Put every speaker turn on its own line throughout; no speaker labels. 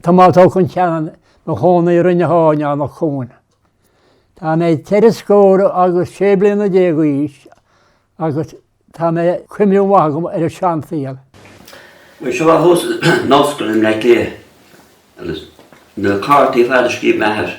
Tomás Ó Concheanainn i mo chónaí i Rinn na hAirne, in Eanach Cuain. Tá mé ceithre scór agus sé bliana déag d'aois agus tá mé cuimhne mhaith agam ar an seansaol.
Bhí siad as an ollscoil i mBleá Cliath agus na cártaí fada, scríobh m'athair.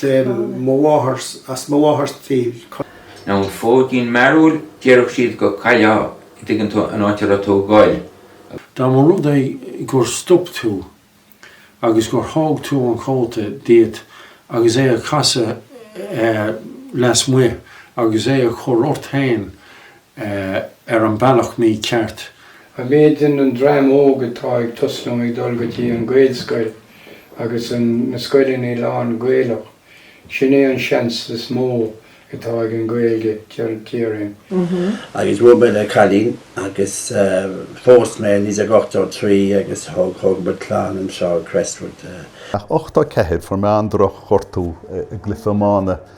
Deir mo mháthair 's as mo mháthair
tír, Con. An fóidín mearúil, déarfadh siad go gcaillfeá an dtuigeann tú, an áit a raibh tú ag gol, agus. Dá mba rud
é gur stop tú agus gur thóg tú an cóta díot agus é a casadh lasmuigh agus é a chur ort féin, ar an mbealach mícheart. An méid
den an dream óg atá ag tosnú ag dul go dtí an Gaelscoil agus an na scoileanna lán Gaelach, sin é an seans is mó atá ag an Gaeilge, dar liom.
Agus bhuail mé le cailín agus phós mé í in 83 agus thug thug muid clann anseo Crestwood.
Ach 84 fuair mé an-droch ghortú i gcluife iomána.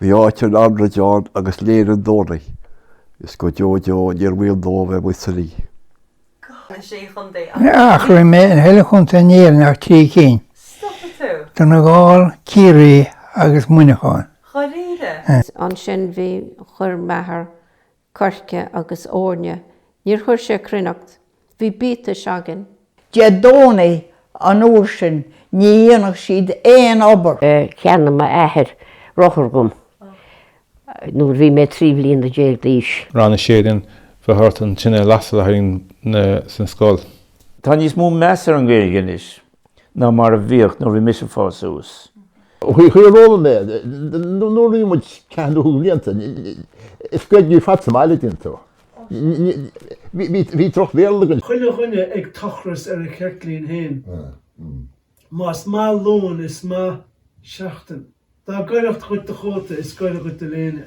Bhí áit an aráin ann agus léine an domhnaigh is go deo deo níor bhaol dóibh a bheith amuigh san
oíche. Bhí mé i chuile chontae in Éirinn ach trí cinn, Donegal, Ciarraí agus Muineachán.
Ansin bhí, chuir m'athair coirce agus eorna. Níor chuir sé cruithneacht. Bhí biatais againn. Dé
Domhnaigh an uair sin. Ní dhéanadh siad aon obair. Cheannaigh m'athair
rothar dhom nuair bhí mé trí bhliana déag d'aois. Rang a Sé
then, bheadh ort an tine a lasadh le haghaidh, sa scoil. Tá níos mó
meas ar an Ghaeilge anois. ná mar a bhíodh nuair a bhí mise ag fás suas.
Chuala mé nuair a bhí muid ceathair nó cúig bhlianta, is Gaeilge ar fad sa mbaile, dtuigeann tú. Bhí droch Bhéarla againn. Chuile dhuine ag
tochras ar a cheirtlín fhéin. Más maith Luan is maith seachtain. Dá ghaireacht dhuit do chóta is gaire dhuit do léine.